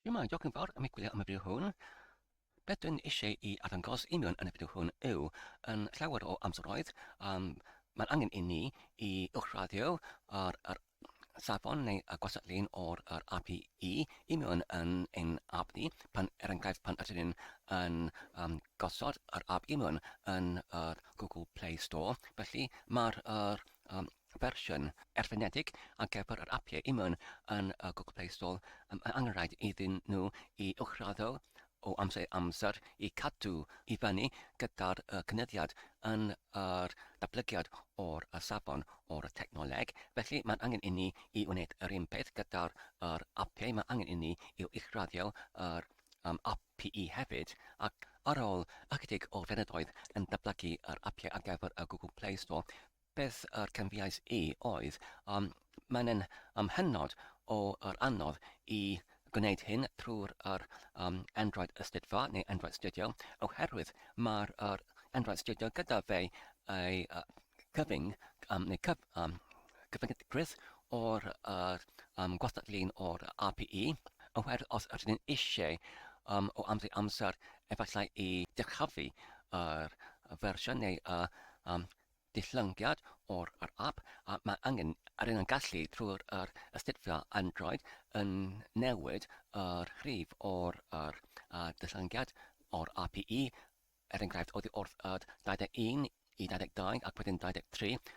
Yma, diolch yn fawr am eglwyddo am y fideo hwn. Beth dwi'n eisiau i arddangos i mewn yn y fideo hwn yw yn llawer o amseroedd um, mae'n angen i ni i uwchraddio ar yr safon neu y gwasadlun o'r yr API i mewn yn ein app ni pan er enghraifft pan ydyn ni'n yn um, gosod yr app i mewn yn yr Google Play Store felly mae'r um, fersiwn erfynedig ar gyfer yr apiau Imwn yn y Google Play Store am y angenrhaid iddyn nhw i uwchraddio o amser i amser i cadw i fyny gyda'r cynyddiad yn yr datblygiad o'r safon o'r technoleg, felly mae'n angen inni i wneud yr un peth gyda'r yr apiau, mae angen inni i uwchraddio yr um, API hefyd, ac ar ôl ychydig o flynyddoedd yn datblygu yr apiau ar gyfer y Google Play Store, Beth yr canfuais i oedd, um, mae'n yn um, hynod o yr anodd i gwneud hyn trwy'r yr um, Android Ystudfa neu Android Studio, oherwydd mae'r yr Android Studio gyda fe ei uh, cyfyng um, neu cyf, um, cyfyngiadgrwydd o'r yr, um, gwastadlun o'r API, oherwydd os ydyn ni'n eisiau um, o amser i amser efallai i dyrchafu yr fersiwn neu y um, dillyngiad o'r yr ap a mae angen ar un yn gallu trwy'r yr astudio Android yn newid yr rhif o'r yr a dillyngiad o'r ap i i er enghraifft oddi wrth yd 21 i 22 ac wedyn 23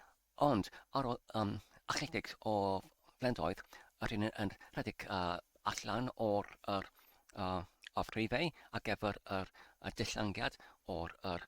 ond ar ôl um, ychydig o flendoedd yr hyn yn rhedeg uh, allan o'r yr uh, of rhifau a gefyr yr, y dillyngiad o'r yr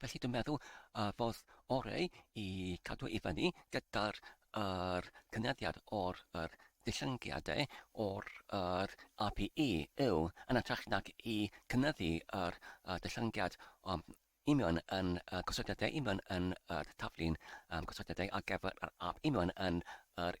Felly dwi'n meddwl uh, fodd orau i cadw i fyny gyda'r er, cynyddiad o'r er, dillyngiadau o'r er, APE yw yn atrach nag i cynyddu yr er, dillyngiad um, union yn uh, gosodiadau union yn yr er, taflu'n um, gosodiadau ar gyfer yr APE union yn yr er,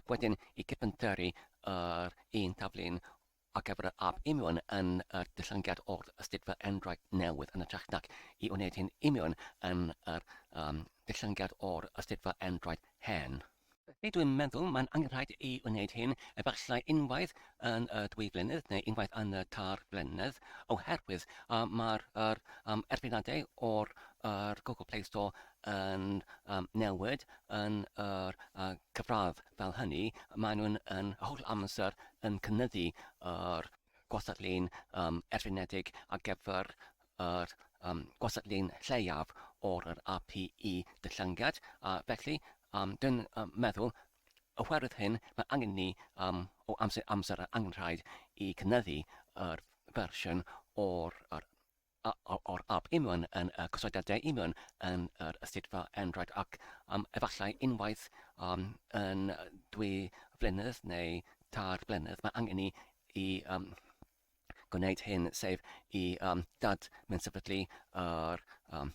ac wedyn i gyfynteri yr un taflen ar gyfer yr ab union yn yr dillyngiad o'r ystudfa endraid newydd yn y trech nac i wneud hyn union yn yr um, dillyngiad o'r ystudfa endraid hen. Felly dwi'n meddwl mae'n angenrhaid i wneud hyn efallai unwaith yn y dwy flynedd neu unwaith yn y tair flynedd oherwydd uh, mae'r er, um, erfynadau o'r er Google Play Store yn newid yn yr cyfradd, fel hynny, maen nhw'n yn holl amser yn cynyddu yr gwastatlun erfynedig ar gyfer yr gwastatlun lleiaf o'r yr APE dyllynged, a felly dwi'n meddwl oherwydd hyn mae angen ni o amser i amser yr angenrhaid i cynyddu yr fersiwn o'r yr o'r ap Union yn y cysylltiad De Union yn yr ysitfa Android ac am efallai unwaith um, yn dwy flynedd neu tair blynedd mae angen ni i um, gwneud hyn, sef i um, dad mynd sefydlu yr um,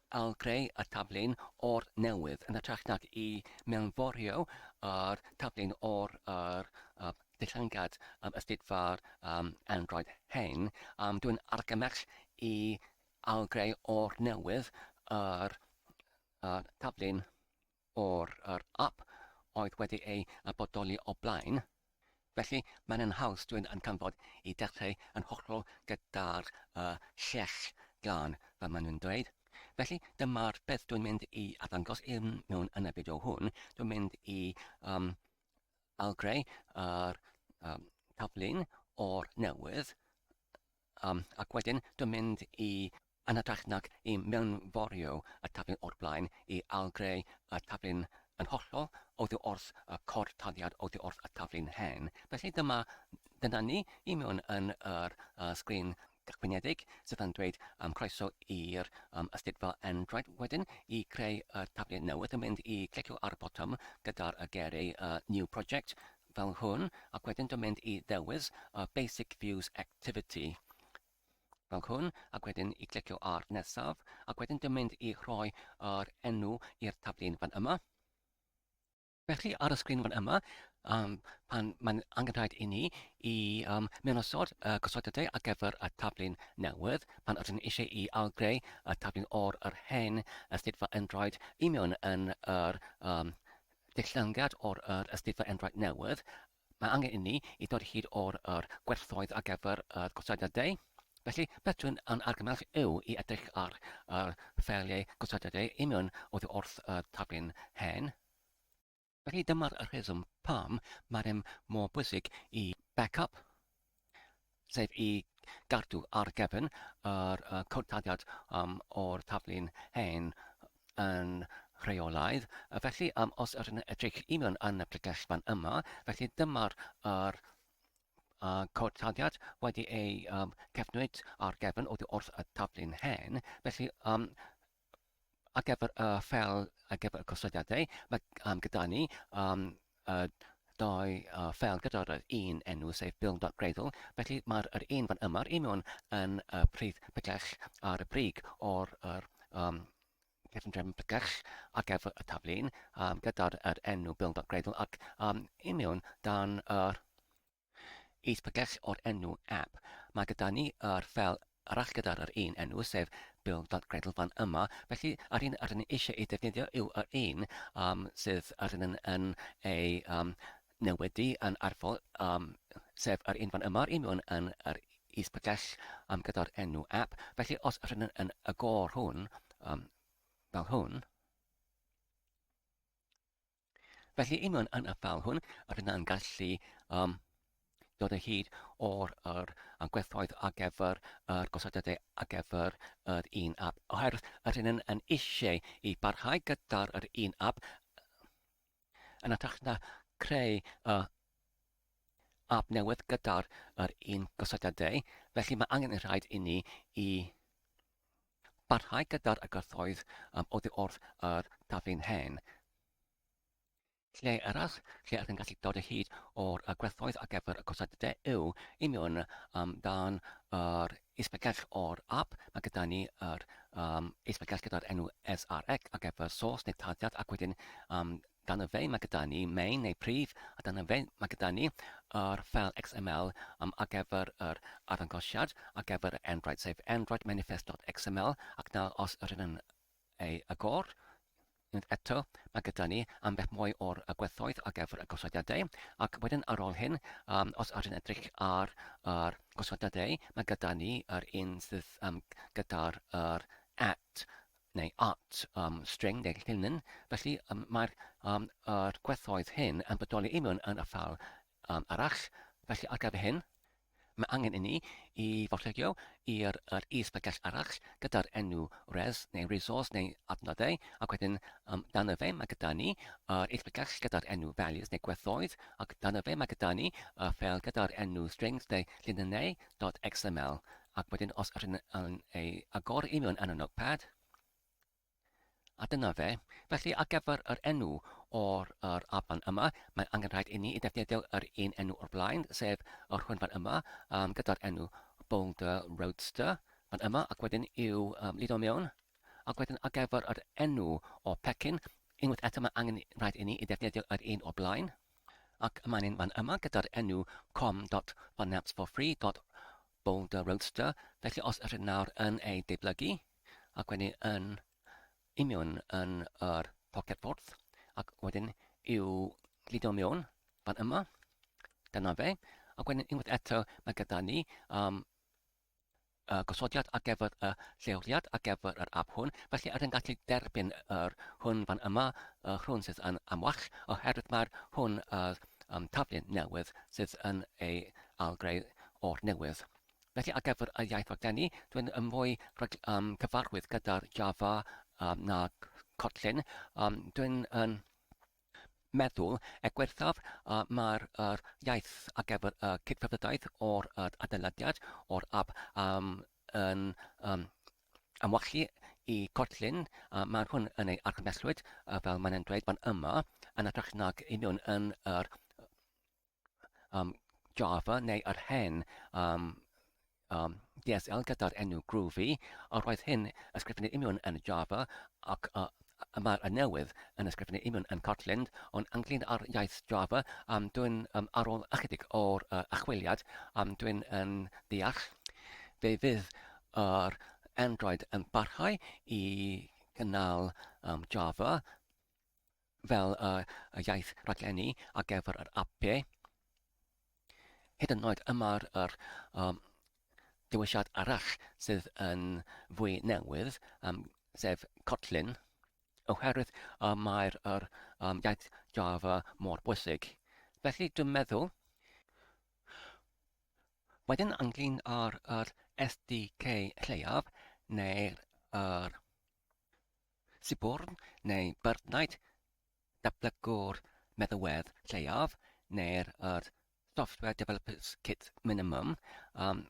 Ail-greu y taflen or newydd yn hytrach nag i mewnforio yr taflen or yr dillyngiad ystud-far Android hyn, dwi'n argymell i ail-greu or newydd yr taflen. o'r yr ap oedd wedi ei a bodoli o blaen, felly mae'n yn haws dwyn yn canfod i dechreu yn hollol gyda'r y lleill glân fel maen nhw'n dweud. Felly dyma'r beth dwi'n mynd i addangos i mewn yn y fideo hwn, dwi'n mynd i um, algreu yr um, taflun o'r newydd Am, ac wedyn dy mynd i yn hytrach nag i mewnforio y taflen o'r blaen i ailgreu y taflen yn hollol oddi wrth y cod taliad oddi wrth y taflen hen. Felly dyma, dyna ni i mewn yn yr uh, sgrin gychwynedig sydd yn dweud um, croeso i'r um, ystyr fel Android. Wedyn i greu y taflen newydd yn mynd i clicio ar y botwm gyda'r uh, geri uh, New Project fel hwn, ac wedyn dwi'n mynd i ddewis y Basic Views Activity, fel hwn, ac wedyn i glicio ar nesaf, ac wedyn dwi'n mynd i rhoi yr enw i'r taflu'n fan yma. Felly ar y sgrin fan yma, um, pan mae'n angen rhaid i ni i um, mewn osod y gosodadau ar gyfer y taflu'n newydd, pan ydyn ni eisiau i algreu y taflu'n o'r yr hen astudio yn rhaid i mewn yn yr um, Dillyngiad o'r yr Astudio Enwraig Newydd, mae angen inni i ddod hyd o'r yr gwerthoedd ar gyfer yr gosodiadau, felly beth dwi'n yn argymell yw i edrych ar yr ffeiliau gosodiadau union oddi wrth y taflen hen. Felly dyma'r rheswm pam mae'r rem mor bwysig i Backup. sef i gadw ar gefn yr uh, cwrtadiad um, o'r taflu'n hen yn rheolaidd. Felly, um, os ydyn edrych i mewn yn y pregell fan yma, felly dyma'r er, uh, cwrtadiad wedi ei um, cefnwyd ar gefn oddi wrth y taflu'n hen. Felly, um, ar gyfer y ffel ar gyfer y cosodiadau, mae um, gyda ni um, uh, dau uh, ffel gyda'r un enw, sef bill.greidl. Felly mae'r er un fan yma'r un mewn yn uh, pridd pellach ar y brig o'r er, um, cefndrefn pellach ar gyfer y taflun um, gyda'r er enw bill.greidl ac um, un mewn dan yr er, Is Pagech o'r enw app. Mae gyda ni yr ffeil arall gyda'r yr un enw, sef build.gradle fan yma. Felly, yr un rydyn ni eisiau ei ddefnyddio yw yr un um, sydd rydyn yn, yn ei um, newydu yn arfol, um, sef yr un fan yma, yr un mewn yn yr is Pagech um, gyda'r enw app. Felly, os rydyn yn y gor hwn, um, fel hwn, Felly, i mewn yn y ffal hwn, rydyn yn gallu um, dod o hyd o'r er, gwerthoedd ar gyfer yr gosodiadau ar gyfer yr un app. Oherwydd yr hyn yn, yn eisiau i barhau gyda'r yr un app yn atrach na creu uh, app newydd gyda'r yr un gosodiadau. Felly mae angen yn rhaid i ni i Parhau gyda'r agorthoedd am oddi wrth yr taflu'n hen. Lle arall lle ydych yn gallu dod o hyd o'r agwerthoedd ar gyfer y cwsad de yw i mewn am dan yr isbegell o'r app. Mae gyda ni yr um, isbegell gyda'r enw SRX ar gyfer sos neu tarddiad ac wedyn um, Dyna fe, mae gyda ni main neu prif, a dyna fe, mae gyda ni yr ffeil XML um, ar gyfer yr arddangosiad, ar gyfer y Android, sef Android Manifest.xml, ac nawr os yr hyn yn ei agor, unwaith eto, mae gyda ni ambell mwy o'r gwerthoedd ar gyfer y gosodiadau, ac wedyn ar ôl hyn, um, os ydyn edrych ar yr gosodiadau, mae gyda ni yr un sydd um, gyda'r er at neu at um, string neu llinyn, felly um, mae'r um, er gwerthoedd hyn yn bodoli union yn y ffal um, arall. Felly ar gyfer hyn, mae angen i ni i forllygio i'r er is-bregell arall gyda'r enw res neu resource neu adnoddau ac wedyn um, dan y fe mae gyda ni yr is-bregell gyda'r enw values neu gwerthoedd ac dan y fe mae gyda ni y ffel gyda'r enw strings neu llinynnau.xml Ac wedyn os ydyn yn ei agor i mewn yn y notepad, a dyna fe. Felly ar gyfer yr enw o'r yr afan yma, mae angen rhaid i ni i ddefnyddio yr un enw o'r blaen, sef yr hwn fan yma, um, gyda'r enw Boulder Roadster fan yma, ac wedyn i'w um, lido mewn, ac wedyn ar gyfer yr enw o pecyn, unwaith eto mae angen rhaid i ni i ddefnyddio yr un o'r blaen, ac mae'n fan yma gyda'r enw com.funapps for free Boulder Roadster, felly os ydych nawr yn ei deiblygu, ac wedyn yn union yn yr pocedffordd, ac wedyn i'w gludo mewn fan yma, dyna fe, ac wedyn unwaith eto mae gyda ni um, y gosodiad ar gyfer y lleoliad ar gyfer yr app hwn, felly ydyn gallu derbyn yr hwn fan yma, y hwn sydd yn amwach, oherwydd mae'r hwn yr um, taflen newydd sydd yn ei algreu o'r newydd. Felly ar gyfer y iaith raglenni, dwi'n yn fwy cyfarwydd gyda'r Java na Kotlin. Dwi'n yn meddwl er gwaethaf mae'r iaith ar gyfer y cydfeddwdaeth o'r adeiladiad o'r app yn amwallu i Kotlin. Mae hwn yn ei argymhellwyd fel mae'n dweud fan yma yn hytrach nag un nhw yn yr um, Java neu yr hen um, um, DSL gyda'r enw Groovy, a roedd hyn ysgrifennu imiwn yn Java ac uh, y mae'r y newydd yn ysgrifennu imiwn yn Kotlin, ond ynglyn â'r iaith Java, um, dwi'n um, ar ôl ychydig o'r uh, achwiliad, um, dwi'n yn ddeall. Fe fydd yr Android yn parhau i gynnal um, Java, fel y iaith raglenni ar gyfer yr APPE, hyd yn oed y mae'r yr, um, dewisiad arall sydd yn fwy newydd, um, sef Kotlin, oherwydd y mae'r yr, um, iaith Java mor bwysig. Felly dwi'n meddwl Wedyn ynglyn â'r yr SDK lleiaf neu'r yr Siborn neu Byrddnaid, Datblygwr Meddalwedd Lleiaf neu'r yr Software Developers Kit Minimum, um,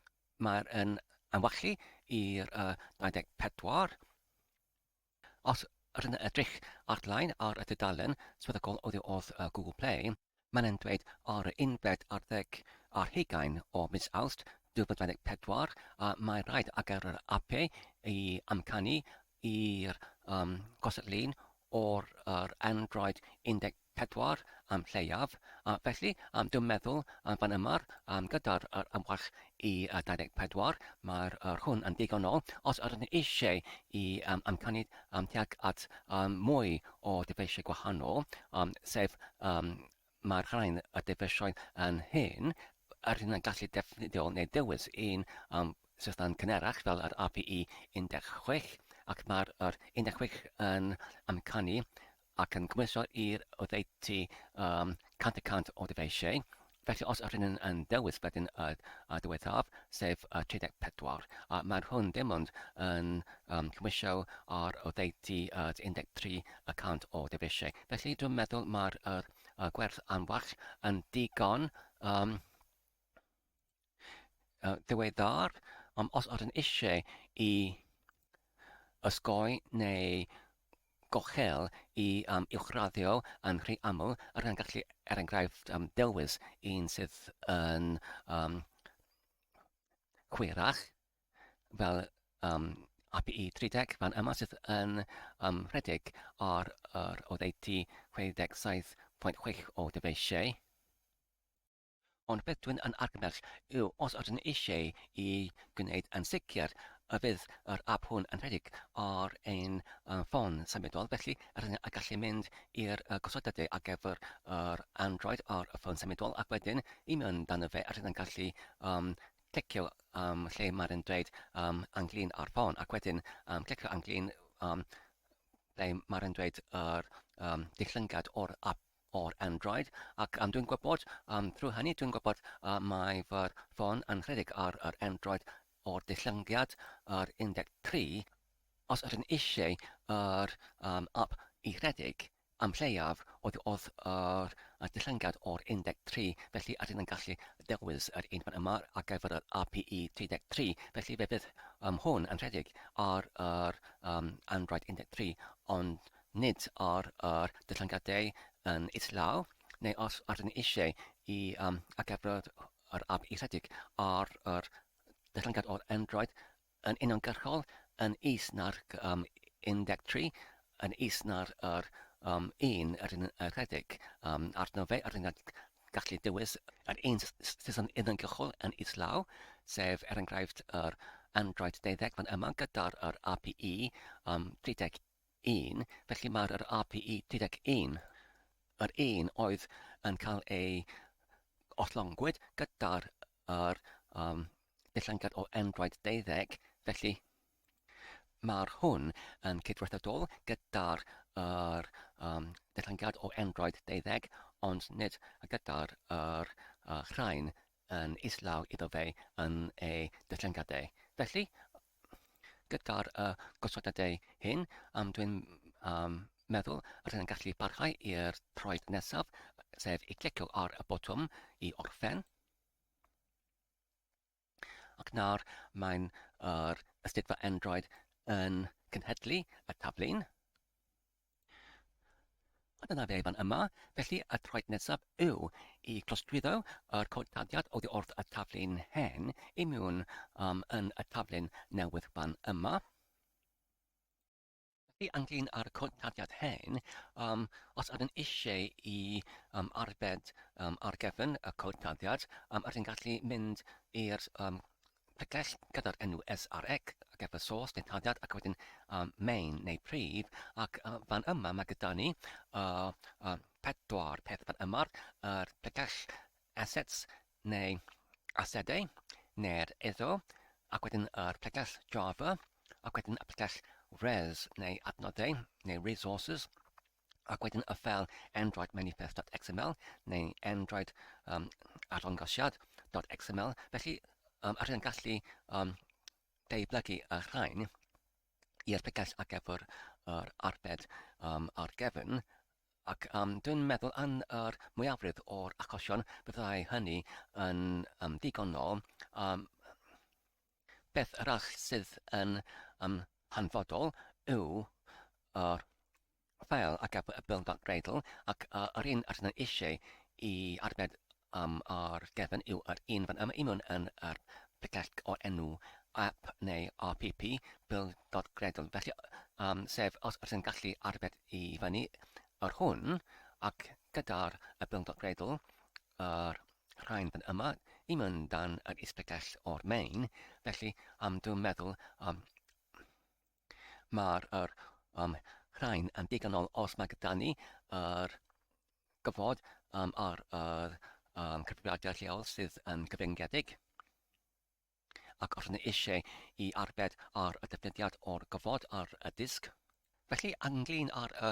mae'r yn anwallu i'r uh, 24. Os rydyn edrych ar-lein ar y dudalen swyddogol oddi wrth uh, Google Play, Mae'n ymdweud ar y unfed ar ddeg ar hugain o mis Awst 2024 a mae rhaid ar gyfer yr APE i amcanu i'r um, gosod lun o'r yr Android 14 am lleiaf, a felly um, dwi'n meddwl um, fan yma um, gyda'r yr ymwell i 24, mae'r yr hwn yn ddigonol os ydyn ni eisiau i um, amcanu um, tuag at um, mwy o dyfeisiau gwahanol, um, sef um, mae'r rhain y dyfeisioedd yn hyn, yr hyn yn gallu defnyddio neu dewis un um, system cynerach fel yr API 16, ac mae'r yr 16 yn amcanu ac yn gymhwyso i'r oddeutu um, 100 y cant o ddyfeisiau. Felly os ydyn nhw'n yn dewis wedyn y, y diwethaf, sef y 34, a maen nhw'n dim ond yn um, cymhwyso ar oddeutu y 13 y cant o ddyfeisiau. Felly dwi'n meddwl mae'r y, y gwerth anfarch yn digon um, ddiweddar, ond os ydyn eisiau i osgoi neu gochel i um, uwchraddio yn rhy aml, yr hyn gallu, er enghraifft, um, dewis un sydd yn um, chwerach, fel um, API 30 fan yma sydd yn um, rhedeg ar yr oddeutu 67.6 o dyfeisiau. Ond beth dwi'n yn argymell yw os ydyn eisiau i gwneud yn sicr y bydd yr ap hwn yn rhedeg ar ein ffôn symudol, felly rydyn yn gallu mynd i'r gosodadau ar gyfer yr Android ar y ffôn symudol ac wedyn i mewn dano fe a rydyn yn gallu um, clicio um, lle mae'r yn dweud um, anglin ar ffôn ac wedyn um, clicio anglin um, ble mae'r yn dweud yr um, dillyngad o'r ap o'r Android ac am dwi'n gwybod am trwy hynny dwi'n gwybod a mae fy ffôn yn rhedeg ar yr Android o'r dillyngiad yr 13 os ydyn eisiau yr um, app i rhedeg am lleiaf oedd oedd yr uh, dillyngiad o'r 13 felly ydyn yn gallu dewis yr un fan yma ar gyfer yr API 33 felly fe fydd um, hwn yn rhedeg ar yr um, Android 13 ond nid ar yr dyllingadau yn islaw, neu os ydyn ni eisiau i um, agebrod yr app i rhedeg ar yr dyllyngad o'r Android yn uniongyrchol yn is na'r um, 13, yn is na'r yr, um, un yr un y rhedeg um, arno fe, yr un gallu dewis yr un sydd yn uniongyrchol yn islaw, sef er enghraifft yr Android 12 fan yma gyda'r API um, 31 un, felly mae'r yr RPE 31 yr un oedd yn cael ei ollongwyd gyda'r yr, um, dillangad o Android 12, felly mae'r hwn yn cydweithredol gyda'r yr, um, dillangad o Android 12, ond nid gyda'r yr, uh, rhain yn islaw iddo fe yn ei dyllingadau. Felly, gyda'r uh, gosodadau hyn, um, dwi'n um, meddwl yr hyn yn gallu parhau i'r troed nesaf, sef i clicio ar y botwm i orffen. Ac nawr mae'n yr ystydfa Android yn cynhedlu y taflun. A dyna fe fan yma, felly y traed nesaf yw i glostwyddo yr cod dyddiad oddi wrth y taflu'n hen i mewn um, yn y taflu'n newydd fan yma. Felly ynglyn â'r cod dyddiad hen, um, os ydyn eisiau i um, arbed um, ar gefn y cod dyddiad, um, ydyn gallu mynd i'r um, Pregeth gyda'r enw SREC ac efo source neu tarddiad ac wedyn um, main neu prif ac uh, fan yma mae gyda ni uh, uh, pedwar peth fan yma yr er pregeth assets neu asedau neu'r iddo ac wedyn yr er pregeth Java ac wedyn y pregeth res neu adnoddau neu resources ac wedyn y fel Android manifest.xml neu Android um, arddangosiad.xml. Felly, um, ar hyn gallu um, deiblygu y rhain i erpigais ar gyfer yr arbed um, ar gefn Ac um, dwi'n meddwl yn yr mwyafrif o'r achosion byddai hynny yn um, ddigonol um, Peth arall sydd yn um, hanfodol yw yr fel a gaf y Bill Cradle ac uh, yr un rydyn ni eisiau i arbed um, ar gefn yw yr un fan yma i mewn yn yr picell o'r enw app neu RPP Bill Cradle. Felly, um, sef os rydyn gallu arbed i fyny yr hwn ac gyda'r y Bill Cradle A'r rhain fan yma, i mewn dan yr ysbytell o'r main, felly am dwi'n meddwl um, mae'r er, um, rhain yn digonol os mae gyda ni yr er, gyfod um, ar yr um, cyfrifiadur lleol sydd yn gyfyngedig. ac os ni eisiau i arbed ar y defnyddiad o'r gofod ar y disg, felly ynglŷn â'r y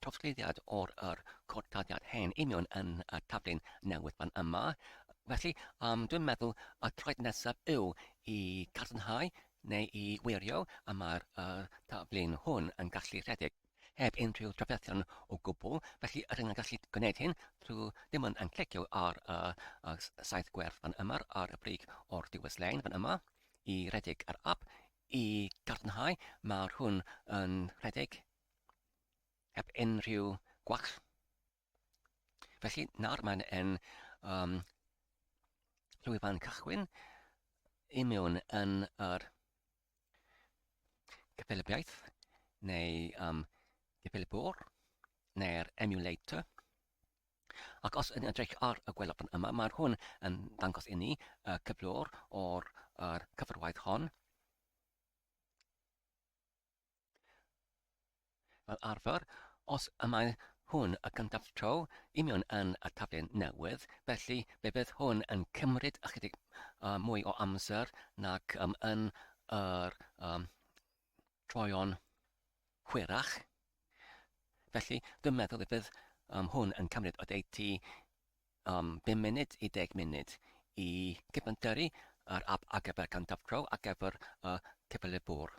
trawsgludiad o'r yr cod-daliad hen union yn y taflu'n newydd fan yma, felly yym dwi'n meddwl y troed nesaf yw i gadarnhau neu i wirio y mae'r y taflu'n hwn yn gallu rhedeg. heb unrhyw drafferthion o gwbl, felly rydyn yn gallu gwneud hyn drwy dim ond yn clicio ar y saith gwerth fan yma ar y brig o'r diwedd lein fan yma i redeg yr app i gadarnhau mae'r hwn yn rhedeg heb unrhyw gwach. Felly, nawr mae'n en um, llwyfan cychwyn i mewn yn yr gyffelybiaeth neu um, gyffelybuwr neu'r emulator. Ac os yn edrych ar y gwelafon yma, mae hwn yn dangos i ni y cyflwr o'r cyfarwaith hon. Fel arfer, os y mae hwn y gyntaf tro i mewn yn y taflen newydd, felly fe fydd hwn yn cymryd ychydig uh, mwy o amser nac um, yn yr um, troion hwyrach. Felly, dwi'n meddwl y bydd um, hwn yn cymryd o deiti um, 5 munud i 10 munud i gyfanteri yr app ar gyfer cyntaf tro ar gyfer y uh, cyfalefwr.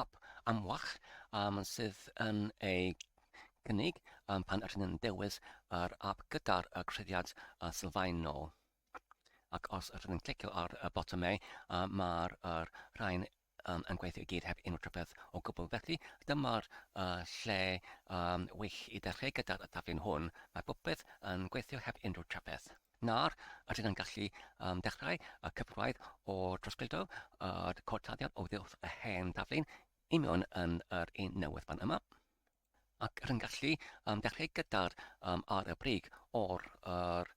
Ap amlach um, sydd yn ei gynnig um, pan rydyn yn dewis yr ap gyda'r uh, creddiad uh, sylfaenol. Ac os rydyn yn clicio ar y botymau, uh, mae'r uh, rhain um, yn gweithio i gyd heb unrhyw trafferth o gwbl. Felly, dyma'r uh, lle um, wych i ddechrau gyda'r taflen hwn. Mae popeth yn gweithio heb unrhyw trafferth. Nawr, ydyn yn gallu um, dechrau y cyfraith o drosglwyddo y cortladdiad o ddiwrth y hen daflun i mewn yn yr un newydd fan yma. Ac rydyn gallu um, dechrau gyda'r um, ar y brig o'r er,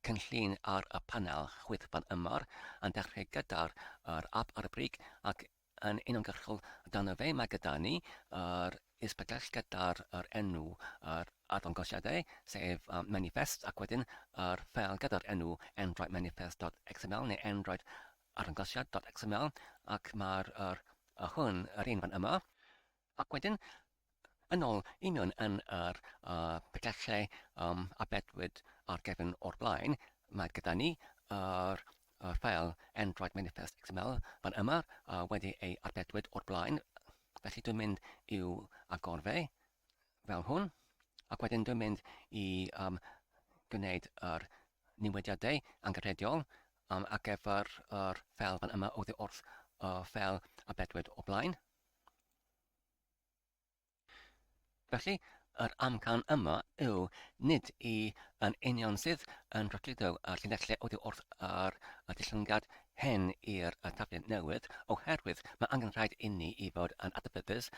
cynllun ar y panel chwith fan yma, yn dechrau gyda'r er, app ar y brig ac yn uniongyrchol amdano fe. Mae gyda ni yr ysbydell gyda'r yr enw yr arddangosiad e, sef um, manifest, ac wedyn yr ffeil gyda'r enw endraid manifest.xml neu endraid arddangosiad.xml, ac mae'r yr, y hwn, yr un fan yma, Ac wedyn, yn ôl union yn yr uh, pyllau um, a bedwyd ar gefn o'r blaen, mae gyda ni yr uh, uh, ffael Android Manifest XML fan yma uh, wedi ei arbedwyd o'r blaen. Felly dwi'n mynd i'w agor fe fel hwn. Ac wedyn dwi'n mynd i um, gwneud yr newidiadau anghyffredol um, ar gyfer yr ffael fan yma oddi wrth y uh, ffael arbedwyd o'r blaen. Felly, yr amcan yma yw nid i yn union sydd yn rhagludo y llinellau oddi wrth yr dillyngiad hen i'r taflen newydd, oherwydd mae angen rhaid inni i fod yn adnabyddus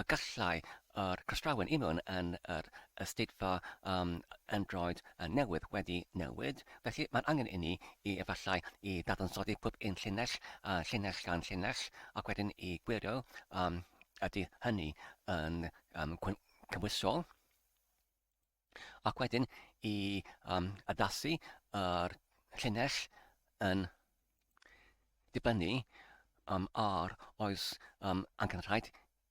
y gallai yr croesdrawen i mewn yn yr ysdeitfa um, Android newydd wedi newid, Felly, mae'n angen inni i efallai i ddadansoddi pob un llinell, a llinell gan llinell, ac wedyn i gwirio a ydy hynny yn um, cymwysol, ac wedyn i um, addasu yr llinell yn dibynnu um, ar oes um, angen rhaid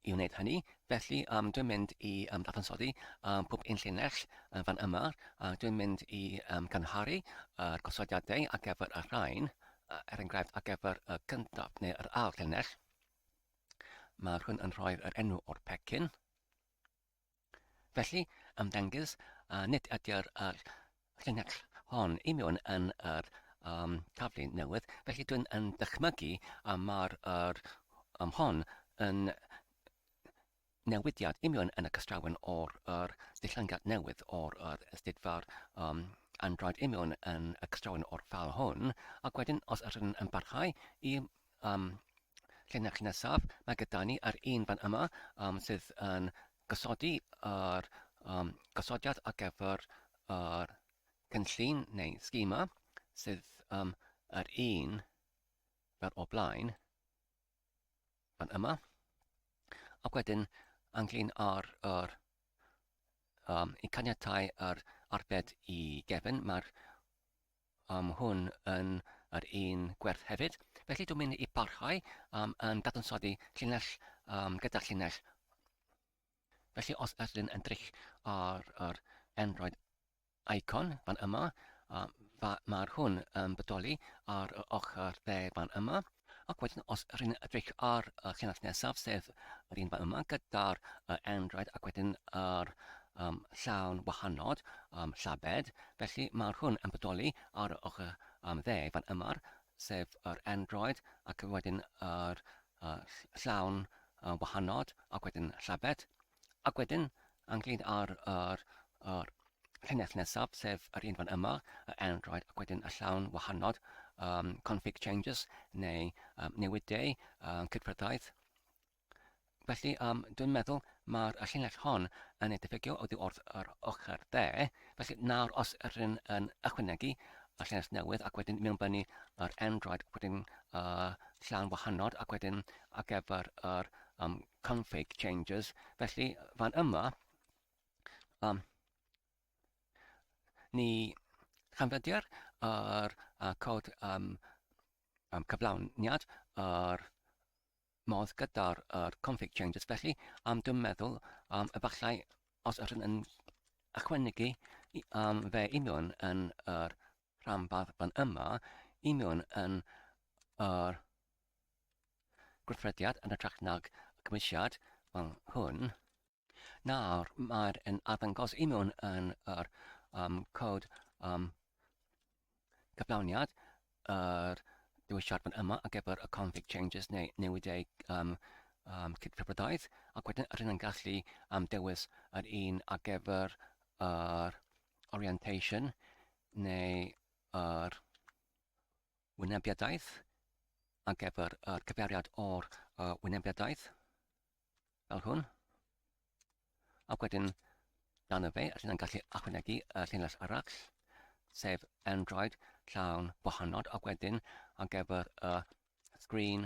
I wneud hynny, felly, um, dwi'n mynd i um, ddadansoddi um, pob un llinell uh, fan yma, a uh, dwi'n mynd i um, gynharu y uh, gosodiadau ar gyfer y rhain, uh, er enghraifft ar gyfer y uh, cyntaf neu yr ail llinell. Mae hwn yn rhoi'r enw o'r pecyn. Felly, ymddengys a nid ydy'r uh, llinell hon i mewn yn yr um, taflu newydd, felly dwi'n yn dychmygu a mae'r er, um, hon yn newidiad i mewn yn y cystrawen o'r er, dilllangiad newydd o'r er, ysdidfa'r um, Android i mewn yn y cystrawen o'r ffal hwn, ac wedyn os ydyn yn barhau i um, llenach nesaf, mae gyda ni ar un fan yma um, sydd yn gosodi ar um, gosodiad ar gyfer yr cynllun neu schema sydd um, yr un fel o blaen fan yma. Ac wedyn anglyn ar yr um, i caniatau yr arbed i gefn, mae'r am hwn yn yr un gwerth hefyd. Felly dwi'n mynd i barhau am yn dadansoddi llinell um, gyda'r llinell. Felly os ydych chi'n edrych ar yr Android icon fan yma, um, mae'r hwn yn bodoli ar y ochr dde fan yma. Ac wedyn os rwy'n edrych ar y llinell nesaf, sef yr un fan yma gyda'r uh, endraid ac wedyn yr um, llawn wahanod, um, llabed, felly mae hwn yn bodoli ar y ochr um, dde fan yma, sef yr endraid ac wedyn yr uh, llawn uh, wahanod ac wedyn llabed. Ac wedyn, angladd ar yr, yr llinell nesaf, sef yr un fan yma, yr Android, ac wedyn y llawn wahanod, um, config changes, neu um, newidau um, cydfryddaeth. Felly, um, dwi'n meddwl mae'r llinell hon yn ei diffygio oddi wrth yr ochr dde. Felly, nawr os rydyn yn ychwanegu y llinell newydd ac wedyn mewn bynu yr Android, wedyn uh, llawn wahanod ac wedyn ar gyfer yr um, config changes. Felly, fan yma, um, ni chanfyddia'r ar, a cod um, um, cyflawniad ar modd gyda'r er config changes. Felly, am dwi'n meddwl, um, efallai os ydyn yn ychwanegu um, fe union yn yr er rhanbarth fan yma, union yn yr er gweithrediad yn hytrach nag y cymwysiad fel hwn. Nawr, mae'r yn arddangos i mewn yn yr um, cod um, cyflawniad, yr dewisiad fan yma ar gyfer y config changes neu newidau um, um, cydfryddoedd, ac wedyn rydyn yn gallu am dewis yr un ar gyfer yr orientation neu yr wynebiadaeth ar gyfer yr cyfeiriad o'r uh, wynebiadaeth fel hwn. Ac wedyn dan y fe, rydyn ni'n gallu achwanegu y llinell arall, sef Android llawn bohanod ac wedyn ar gyfer y sgrin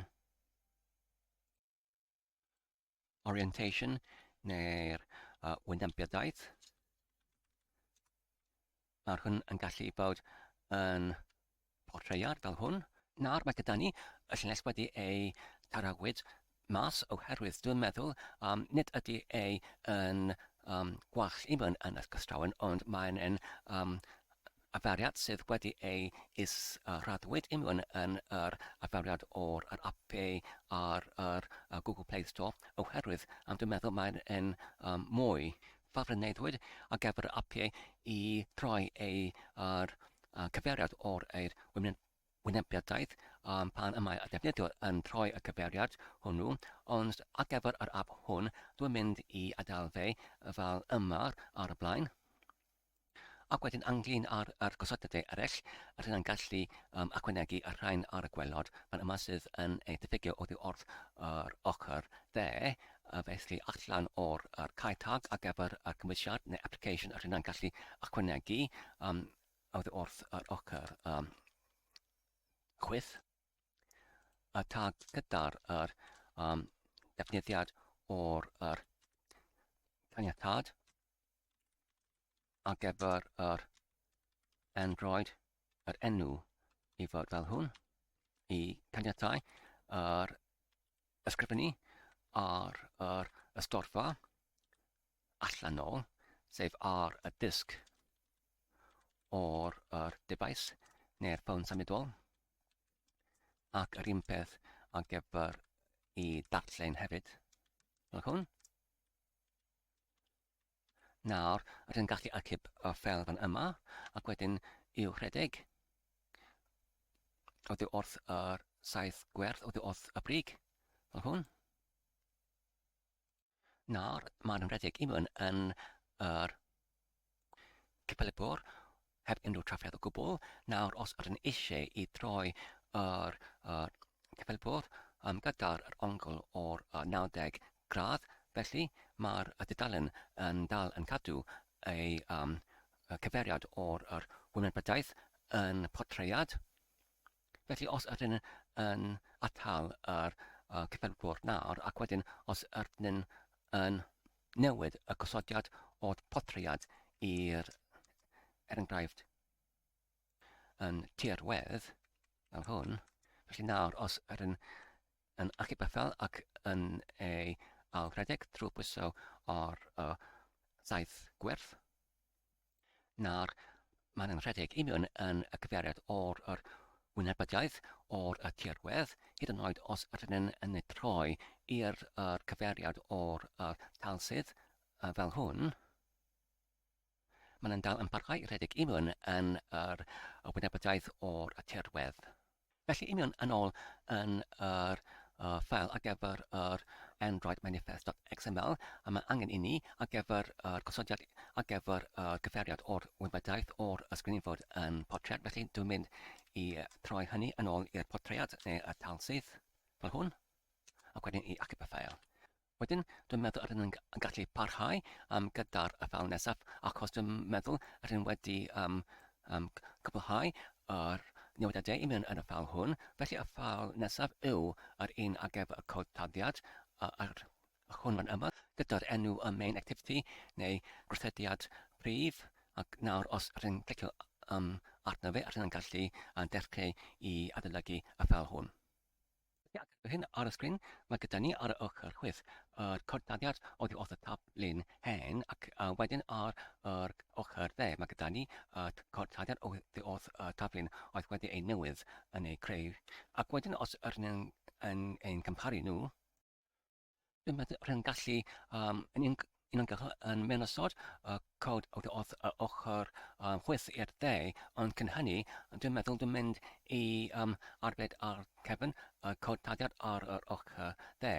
orientation neu'r uh, wynebyddiaeth. Mae'r hwn yn gallu bod yn portreiad fel hwn. Nawr mae gyda ni y llynges wedi ei tarawyd mas oherwydd dwi'n meddwl um, nid ydy ei yn um, gwall i mewn yn ysgystrawn ond mae'n um, Afaeliad sydd wedi ei is-raddwyd union yn yr afaeliad o'r yr ap ar yr Google Play Store oherwydd am dwi'n meddwl mae'n yn um, mwy ffafryneddwyd ar gyfer yr ap i droi ei ar uh, cyfeiriad o'r eir wynebiadaeth um, pan y mae y defnyddiwr yn troi y cyfeiriad hwnnw, ond ar gyfer yr ap hwn dwi'n mynd i adael fe fel yma ar y blaen. Ac wedyn ynglŷn â'r â'r gosodebau eraill, ryddai'n gallu um, ychwanegu y rhain ar y gwelod fan yma sydd yn ei diffygio oddi wrth yr ochr dde, a felly allan o'r yr cae tag ar gyfer y cymwysiad neu application a ryddai'n gallu ychwanegu um, oddi wrth yr ochr um, chwyth y tag gyda'r yr, um, defnyddiad o'r yr caniatad ar gyfer yr Android yr enw i fod fel hwn i caniatau yr ysgrifennu ar yr ystorfa allanol, sef ar y disg o'r yr defaes neu'r ffôn symudol ac yr un peth ar gyfer i darllen hefyd fel hwn. Nawr, rydyn gallu archeb y ffeil fan yma, ac wedyn i'w rhedeg. Oddi wrth yr saith gwerth, oddi wrth y brig, fel hwn. Nawr, mae'n rhedeg i mewn yn yr Capel y Bwr, heb unrhyw trafferth o gwbl. Nawr, os ydyn eisiau i droi yr uh, Capel y Bwr um, gyda'r yr ongl o'r uh, 90 gradd, felly mae'r uh, dudalen yn dal yn cadw ei um, cyfeiriad o'r yr wymanbryddaeth yn portreiad Felly os ydyn ni yn atal yr uh, cyfenwr nawr ac wedyn os ydyn ni'n yn newid y gosodiad o'r portread i'r er enghraifft yn tirwedd fel hwn, felly nawr os ydyn yn achub y ffel ac yn ei ailredeg trwy bwyso o'r uh, saith gwerth, Nawr, mae'n anrhydedig i mi yn, yn y cyfeiriad o'r yr wynebyddiaeth, o'r y tirwedd, hyd yn oed os ydyn yn, yn ei troi i'r yr cyfeiriad o'r yr talsydd uh, fel hwn, mae'n dal yn parhau rhedeg i mi yn, yn yr y wynebyddiaeth o'r y tirwedd. Felly, union yn ôl yn yr uh, ffeil ar gyfer yr Android manifest.xml a mae angen inni ar gyfer yr gosodiad ar gyfer y cyfeiriad o'r wybodaeth o'r ysgrifenfwyd yn portread. Felly, dwi'n mynd i troi hynny yn ôl i'r portread neu y tal syth fel hwn ac wedyn i acip y ffeil. Wedyn, dwi'n meddwl yr yn gallu parhau um, gyda'r afael nesaf, achos dwi'n meddwl yr yn wedi um, um, cwblhau yr newidiadau i mewn yn y ffal hwn. Felly y ffal nesaf yw yr un ar gyfer y cod taddiad a'r hwn fan yma, gyda'r enw y main activity neu gwrthediad prif, ac nawr os yr yn clicio um, arno fe, yr yn gallu uh, dechrau i adolygu y ffal hwn. Ar hyn ar y sgrin, mae gyda ni ar y ochr chwith yr cortaddiad oddi wrth y tab lun hen ac wedyn ar yr ochr dde mae gyda ni y cortaddiad oddi wrth y tab lun oedd wedi ei newydd yn ei creu ac wedyn os yr yn ein cymharu nhw Dwi'n meddwl bod yn gallu um, yn un- uniongyrchol yn mynysodd y cod o dy odd yr ochr um, chwith i'r dde, ond cyn hynny, dwi'n meddwl dwi'n mynd i um, arbed ar cefn y cod dadiad ar yr ochr dde,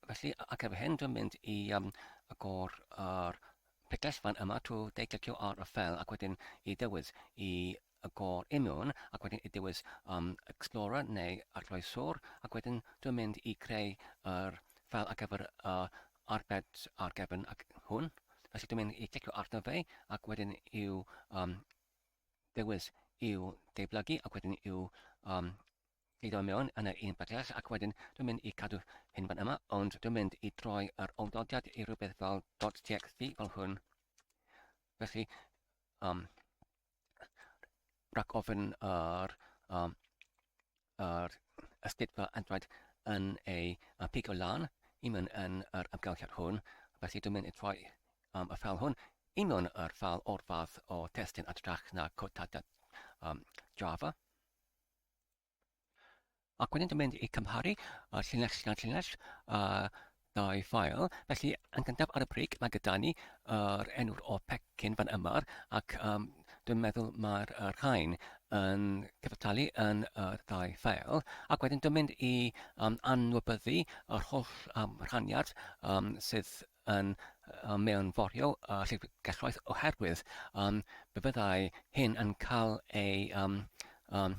felly a- ac efo hyn dwi'n mynd i um, agor yr picell fan yma trwy deitlicio ar y ffel ac wedyn i ddewis i y gôr i mewn ac wedyn i dewis um, Explorer neu Arloeswr ac wedyn dwi'n mynd i creu yr ffeil ar gyfer y arbed ar gefn ac hwn. Felly dwi'n mynd i clicio arno fe ac wedyn i'w um, dewis i'w deiblygu ac wedyn i'w um, gludo mewn yn yr un bydell ac wedyn dwi'n mynd i cadw hyn fan yma ond dwi'n mynd i droi yr awdodiad i rhywbeth fel .txt fel hwn. Felly, um, rhag ofyn ar um, ar ysgydfa adwaid yn ei pigo lan i mewn yn yr amgylchiad hwn, felly dwi'n mynd i troi um, y ffal hwn i mewn yr ffal o'r fath o testyn adrach na cotadad um, Java. Ac wedyn dwi'n mynd i cymharu y llinell gan llinell a dau ffael. Felly, yn gyntaf ar y brig, mae gyda ni yr enw'r o pecyn fan yma, ac um, dwi'n meddwl mae'r er rhain yn cyfattalu yn yr er ddau ffael. Ac wedyn dwi'n mynd i um, anwybyddu yr holl um, rhaniad um, sydd yn um, mewn forio uh, llyfrgelloedd oherwydd um, fe fyddai hyn yn cael ei um, um,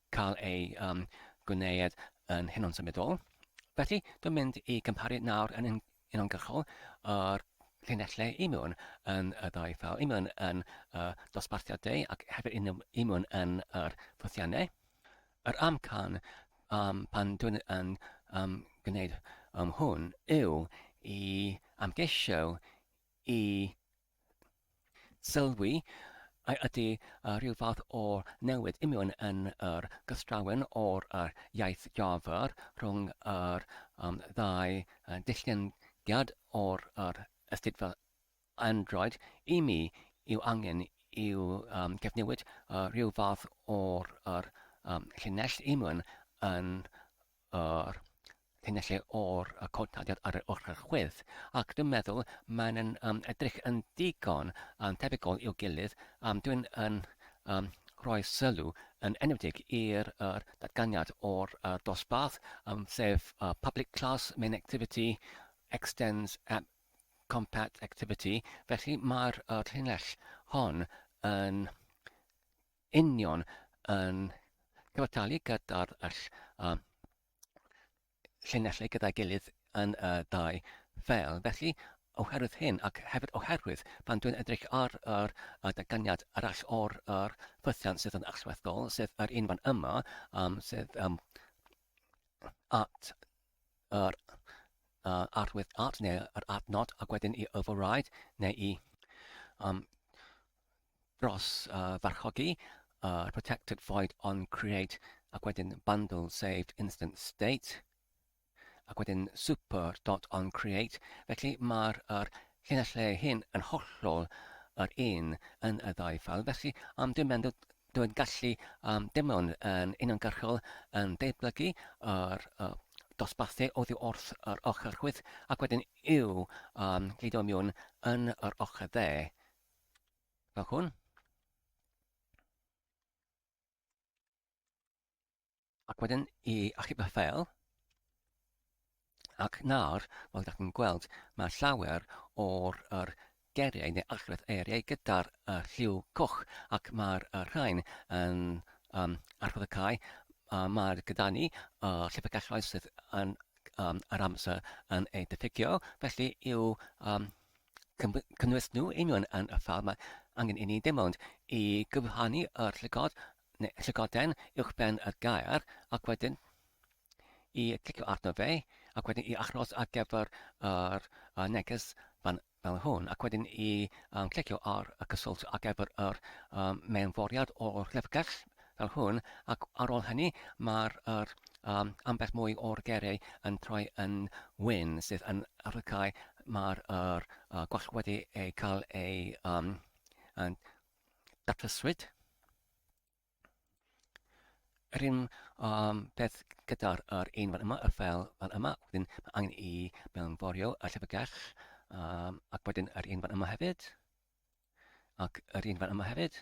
cael ei um, gwneud yn hunan symudol. Felly, dwi'n mynd i gymparu nawr yn uniongyrchol yr llinellau imun yn y ddau ffel, imun yn y dosbarthiadau ac hefyd imun yn yr ffwythiannau. Yr amcan um, pan dwi'n yn um, gwneud um, hwn yw i amgeisio i sylwi a ydy rhyw fath o newid imiwn yn yr gystrawen o'r iaith Jafar rhwng yr ddau ddillgengiad o'r Astudio Android, i mi, yw angen i'w gyfnewid rhyw fath o'r llinell imiwn yn yr llinellau o'r codnodiad ar yr ochr chwith, ac dwi'n meddwl maen nhw'n um, edrych yn digon um, tebygol i'w gilydd. Um, dwi'n yn um, rhoi sylw yn enwedig i'r er, datganiad o'r er, dosbarth, um, sef uh, public class main activity extends at compat activity, felly mae'r er, llinell hon yn union yn cyfartalu gyda'r uh, llinellau gyda'i gilydd yn y uh, dau fel. Felly, oherwydd hyn ac hefyd oherwydd pan dwi'n edrych ar yr uh, datganiad arall o'r uh, ffythiant sydd yn allweddol, sef yr un fan yma, um, sef um, at yr uh, arwydd at neu yr adnod ac wedyn i override neu i um, dros uh, farchogi uh, protected void on create ac wedyn bundle saved instant state ac wedyn super dot on create felly mae'r er, llinellau hyn yn hollol yr un yn y ddau ffal felly am dim ond dwi'n gallu um, dim ond yn uniongyrchol yn deiblygu yr uh, dosbarthu oddi wrth yr ochr chwyth ac wedyn i'w um, gludo miwn yn yr ochr dde Fel hwn. Ac wedyn i achub y ffeil. Ac nawr, fel ydych chi'n gweld, mae llawer o'r er geriau neu achres eiriau gyda'r er lliw coch ac mae'r er rhain yn um, archwyd y cae. Uh, mae gyda ni uh, llyfrgelloedd sydd yn um, yr amser yn ei diffygio, felly i'w um, cynnwys nhw union yn y ffordd mae angen inni dim ond i gyfrhannu y llygod neu llygoden uwch ben y gair ac wedyn i clicio arno fe ac wedyn i achos ar gyfer yr uh, neges fan, fel hwn ac wedyn i um, clicio ar y cyswllt ar gyfer yr um, mewnforiad o'r llyfrgell fel hwn, ac ar ôl hynny mae'r yr um, ambell mwy o'r gerei yn troi yn wyn, sydd yn arwycau mae'r yr uh, gwall wedi ei cael ei um, yn datryswyd. Yr un um, peth gyda'r yr un fan yma, y fel fan yma, wedyn mae angen i mewnforio y llyfrgell, um, ac wedyn yr un fan yma hefyd, ac yr un fan yma hefyd.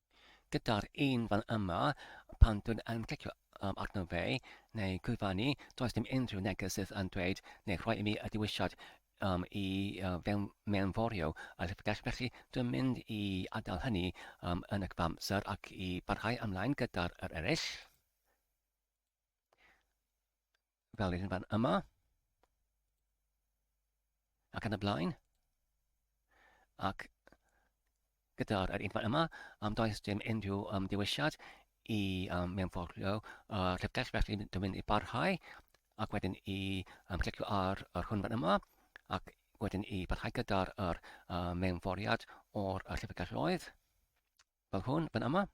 Gyda'r un fan yma, pan dwi'n yn clicio arno fe, neu cyfannu, does dim unrhyw neges sydd yn dweud neu rhoi i mi y dewisiad um, i uh, fewn, mewnforio y llyfrgell, felly dwi'n mynd i adael hynny um, yn y cyfamser ac i barhau ymlaen gyda'r er eraill. fel yr un fan yma, ac yn y blaen, ac gyda'r un fan yma, am does dim unrhyw um, dewisiad i um, mewnforio uh, llyfrgell, felly dwi'n mynd i barhau, ac wedyn i um, clicio ar yr hwn fan yma, ac wedyn i barhau gyda'r er, uh, mewnforiad o'r uh, llyfrgelloedd, fel hwn fan yma.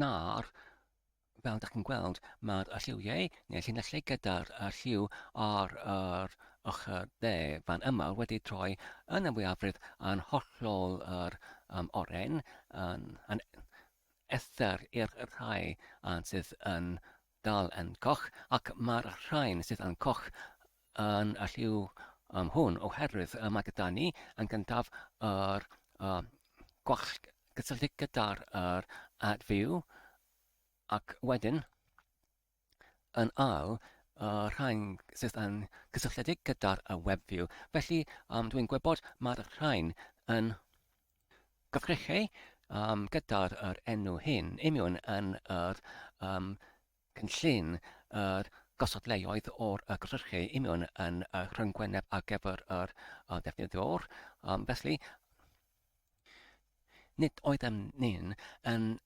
Nawr, fel ydych chi'n gweld, mae'r lliwiau neu'r llinellau gyda'r lliw ar yr ochr dde fan yma wedi troi yn y mwyafrif yn hollol yr um, oren, yn, yn ethr i'r rhai sydd yn dal yn goch ac mae'r rhain sydd yn goch yn y lliw um, hwn oherwydd uh, mae gyda ni yn gyntaf yr uh, gwall gysylltu gyda'r yr ad fyw ac wedyn yn ail y rhain sydd yn cysylltiedig gyda'r y web view. Felly um, dwi'n gwybod mae'r rhain yn Gallech chi, um, gyda'r er enw hyn, imiwn yn yr um, cynllun yr gosod leoedd o'r y gyrchu imiwn yn y rhyngwyneb ar gyfer yr uh, defnyddiwr. Um, felly, nid oeddem ni'n yn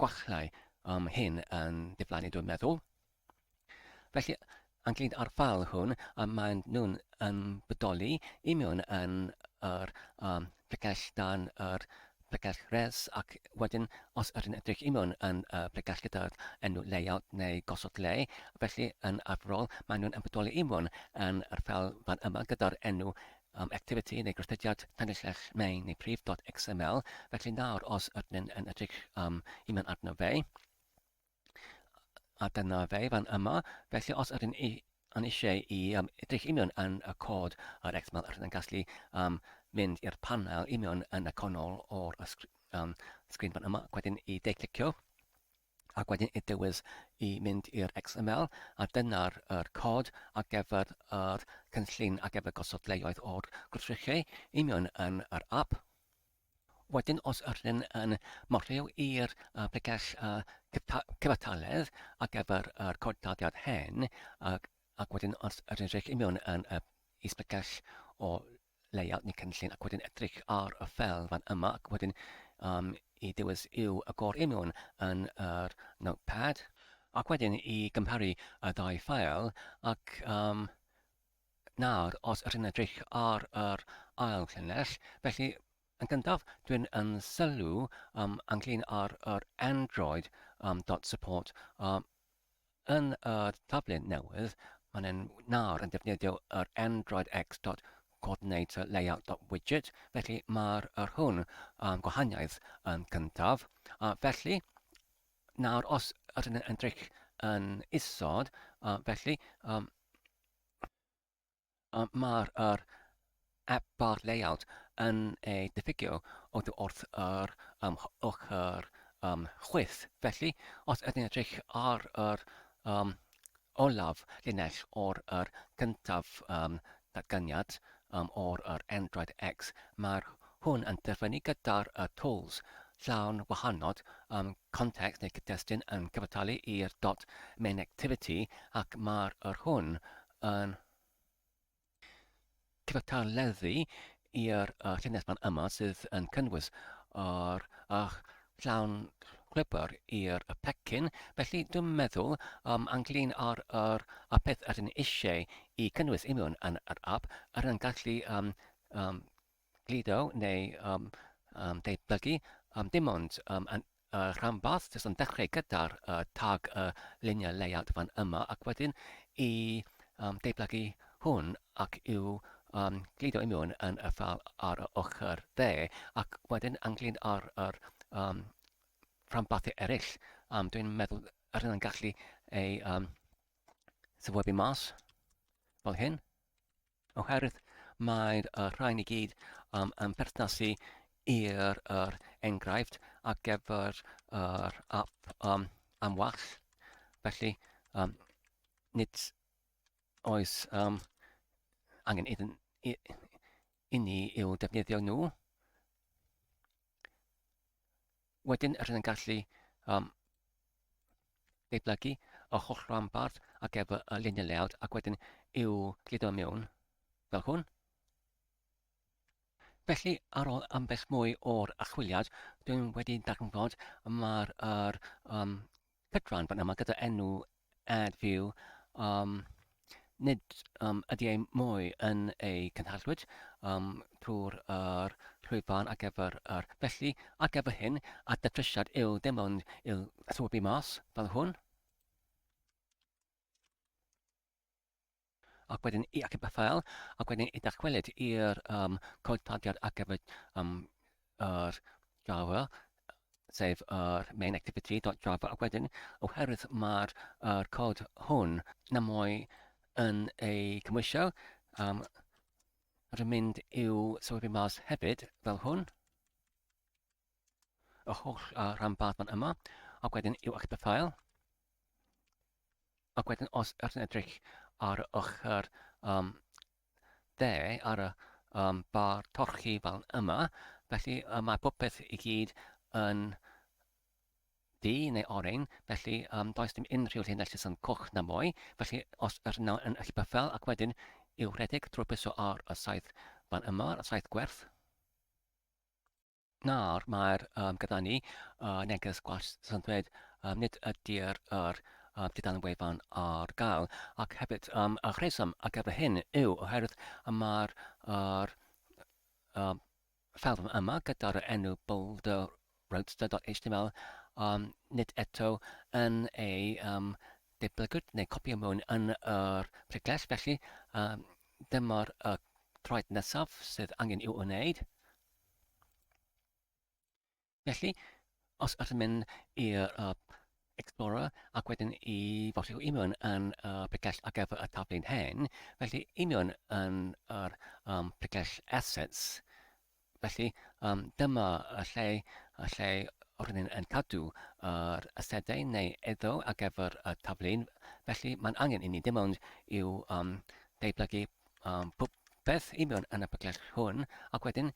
gwallau am hyn yn diflannu dwi'n meddwl. Felly, anglid ar ffal hwn, a maen nhw'n yn bodoli i mewn yn yr um, pregell dan yr pregell res ac wedyn os ydyn edrych i mewn yn y pregell gyda'r enw layout neu gosod le, felly yn arferol maen nhw'n ymwybodoli i mewn yn yr ffel fan yma gyda'r enw am activity neu gweithrediad Tangyllech main neu prif dot XML, felly nawr os ydyn yn edrych am i mewn arno fe, a dyna fe fan yma, felly os ydyn i yn eisiau i um, edrych i mewn yn y cod ar XML, rydyn yn gallu um, mynd i'r panel i mewn yn y canol o'r um, sgrin fan yma, wedyn i de-clicio, ac wedyn y dewis i mynd i'r XML a dyna'r yr cod ar gyfer yr cynllun ar gyfer gosod lleoedd o'r gwrthrychau union yn yr app. Wedyn os yr hyn yn morfeo i'r uh, pregell uh, cyfartaledd ar gyfer yr cod daliad hen ac, ac wedyn os yr hyn union yn uh, is pregell o leia neu cynllun ac wedyn edrych ar y ffel fan yma ac wedyn um, i dewis yw y gor union yn yr notepad ac wedyn i gymharu y ddau ffael ac um, nawr os ydyn edrych ar yr ail llinell felly yn gyntaf dwi'n yn sylw um, ynglyn ar yr Android um, dot support um, Yn y taflen newydd, maen nhw nawr yn defnyddio yr Android X dot Coordinator Layout dot Widget, felly mae'r yr hwn am gwahaniaeth yn cyntaf. A felly, nawr os ydyn yn edrych yn isod, a felly, um, Mae'r App-Bar Layout yn ei diffygio oddi wrth yr ochr chwith, felly os ydyn ni'n edrych ar yr olaf linell o'r cyntaf datganiad o'r Android X, mae hwn yn dyfynnu gyda'r Tools llawn wahanol context neu gyd-destun yn cyfartalu i'r dot main activity ac mae hwn yn cyfathrebu i'r uh, llinell fan yma sydd yn cynnwys o'r uh, llawn gwybr i'r y pecyn. Felly dwi'n meddwl um, anglyn ar yr a peth yr yn eisiau i cynnwys imiwn yn yr app, yr yn gallu um, um, gludo neu um, um, debygu, um, dim ond um, yn y rhanbarth, jyst yn dechrau gyda'r uh, tag y uh, luniau layout fan yma, ac wedyn i um, debygu hwn ac i'w um, gludo i mewn yn y ffal ar y ochr dde, ac wedyn anglyn ar yr um, rhanbarthau eraill. Um, Dwi'n meddwl yr hynny'n gallu ei um, syfwybu mas, fel hyn. oherwydd mae'r uh, rhain i gyd um, yn perthnasu i'r er enghraifft ar gyfer yr uh, app um, am wall. Felly, um, nid oes um, angen iddyn, i, i ni i'w defnyddio nhw. Wedyn rydyn yn gallu um, deiblygu y holl rhanbarth ac efo y luniau layout ac wedyn i'w gludo mewn fel hwn. Felly, ar ôl ambell mwy o'r achwiliad, dwi'n wedi darganfod mae'r er, um, Cytuno'n aml gyda enw Ad View, um, nid um, ydy ei mwy yn ei cynhallwyd um, trwy'r er, llwyfan ar gyfer yr er. Felly, ar gyfer hyn, a datrysiad yw dim ond i'w swbi mas fel hwn, Ac wedyn, ac yn beth fel, ac wedyn i ddychwelyd i'r um, cod tadiad ar gyfer um, yr Java, sef yr uh, main activity.java, ac wedyn, oherwydd mae'r uh, cod hwn na mwy yn ei cymwysio, um, rwy'n mynd i'w sylwi mas hefyd, fel hwn, yr holl uh, rhanbarth fan yma, ac wedyn i'w eich bythael. Ac wedyn os ydych chi'n edrych ar y ochr um, dde, ar y um, bar torchi fel yma, felly uh, mae popeth i gyd yn du neu oren, felly um, does dim unrhyw llinell sy'n coch na mwy, felly os yr nawr yn eich bythel ac wedyn i'w rhedeg trwy piso ar y saith fan yma, y saith gwerth, Nawr, mae'r um, gyda ni uh, neges gwell sy'n dweud um, nid ydy'r yr um, dudalen wefan ar gael. Ac hefyd, um, y rheswm ar gyfer hyn yw oherwydd y mae'r er, um, ffilm yma gyda'r enw boulder roadster.html um, nid eto yn ei um, deblygwyd neu copio mewn yn yr pregles, felly um, dyma'r uh, troed nesaf sydd angen i'w wneud. Felly, os ydych chi'n mynd i'r uh, Explorer ac wedyn i fosio union yn y uh, pregell ar gyfer y taflu'n hen, felly union yn yr um, pregell assets, felly um, dyma y lle, y lle rydyn ni'n cadw yr uh, asedau neu eddo ar gyfer y taflu'n, felly mae'n angen i ni dim ond i'w um, deiblygu um, popeth i mewn yn y paclet hwn ac wedyn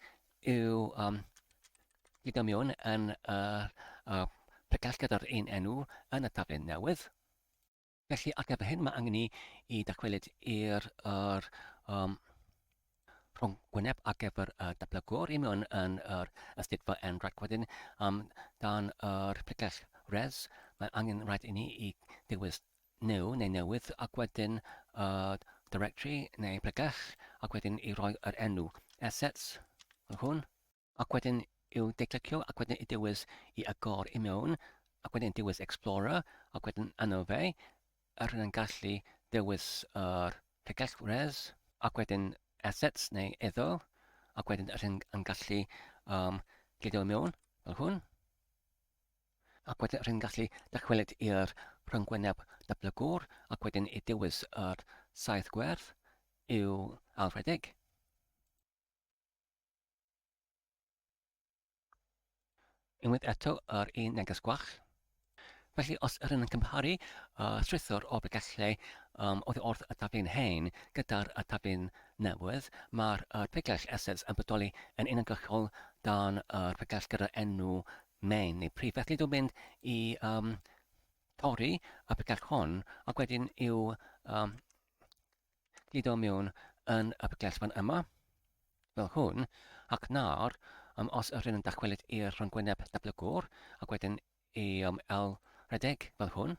yw um, gyda mewn yn y uh, uh, pacell gyda'r un enw yn y taflen newydd. Felly ar gyfer hyn mae angen ni i dacwelyd i'r er, um, rhwng gwyneb ar gyfer y uh, dablygwr i mewn yn yr ystudfa yn rhaid wedyn um, dan yr pregell res, mae angen rhaid i ni i dewis new neu newydd ac wedyn y directory neu pregeth ac wedyn i roi yr enw, assets, fel hwn, ac wedyn i'w declicio ac wedyn i dewis i agor i mewn ac wedyn dewis explorer ac wedyn yno fe yr hyn yn gallu dewis yr pregeth res ac wedyn assets neu eiddo ac wedyn yr hyn yn gallu um, gludo i mewn fel hwn ac wedyn rwy'n gallu dychwelyd i'r rhyngwyneb datblygwr ac wedyn i dewis yr saith gwerth i'w ailrhedeg. Unwaith eto yr un neges gwach. Felly os yr yn cymharu uh, strwythur o bregallau um, oddi wrth y taflu'n hen gyda'r y taflu'n newydd, mae'r uh, pregall assets yn bodoli yn uniongyrchol dan yr uh, pregall gyda'r enw Main neu prif. Felly dwi'n mynd i um, torri y picell hwn ac wedyn i'w um, gludo mewn yn y picell fan yma, fel hwn, ac nawr, um, os yr hyn yn dychwelyd i'r rhongwyneb datblygwr ac wedyn i um, el redeg fel hwn,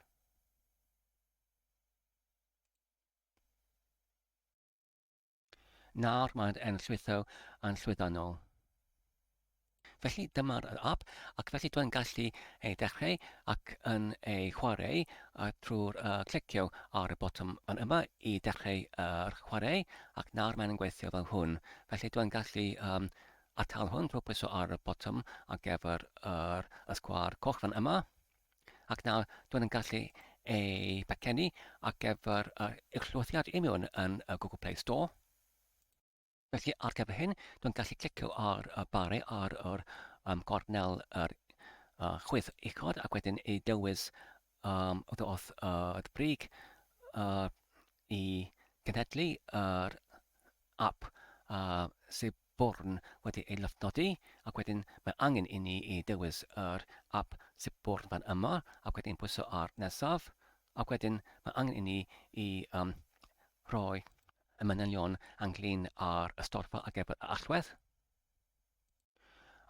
Nawr mae'n enllwytho yn llwyddiannol. Felly dyma'r app ac felly dwi'n gallu ei dechrau ac yn ei chwarae a trwy'r uh, clicio ar y botwm fan yma i dechrau yr uh, chwarae ac nawr mae'n gweithio fel hwn. Felly dwi'n gallu um, atal hwn drwy pwyso ar y botwm ar gyfer yr uh, ysgwar coch fan yma. ac nawr dwi'n yn gallu ei becenu ar gyfer yr uwchlwythiad i mewn yn y Google Play Store. Felly ar gyfer hyn, dwi'n gallu clicio ar y bari ar yr um, gornel yr uh, chwith uchod ac wedyn ei dewis um, wrth wrth uh, y brig uh, i gynhedlu yr uh, app uh, sydd Born wedi ei lofnodi, ac wedyn mae angen i ni i dewis yr ap sydd Born fan yma, ac wedyn pwyso ar Nesaf, ac wedyn mae angen i ni i um, rhoi y manylion ynglyn â'r ystorfa ar gyfer y allwedd,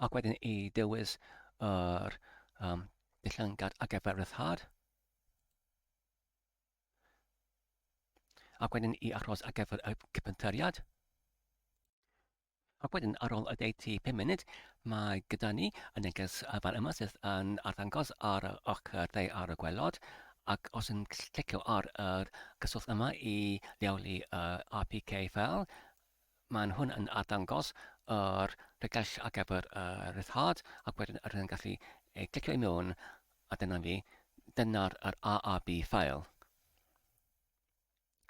ac wedyn i dewis yr um, dillangad ar gyfer ryddhad. Ac wedyn i aros ar gyfer y cypyntariad. Ac wedyn ar ôl y deiti 5 munud, mae gyda ni y neges fan yma sydd yn arddangos ar y ochr dde ar y gwelod ac os yn clicio ar y gyswllt yma i leoli y APK fel, Maen nhw'n yn arddangos yr rhedaill ar gyfer y ryddhad ac wedyn yr yn gallu ei glicio i mewn a dyna ni, dyna'r yr AAB ffael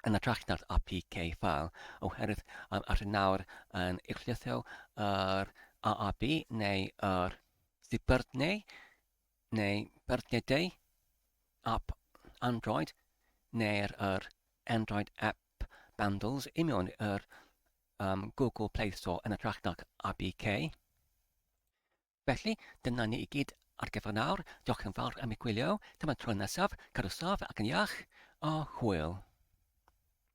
yn atrach na'r APK ffael oherwydd um, ar hyn nawr yn eglithio yr AAB neu yr ddibyrnau neu byrnedau app Android neu'r yr Android app Bundles union yr um, Google Play Store yn ytrach nac ABK. Felly, dyna ni i gyd ar gyfer nawr. Diolch yn fawr am ei gwylio. Dyma tro nesaf, cadw saf ac yn iach, a hwyl.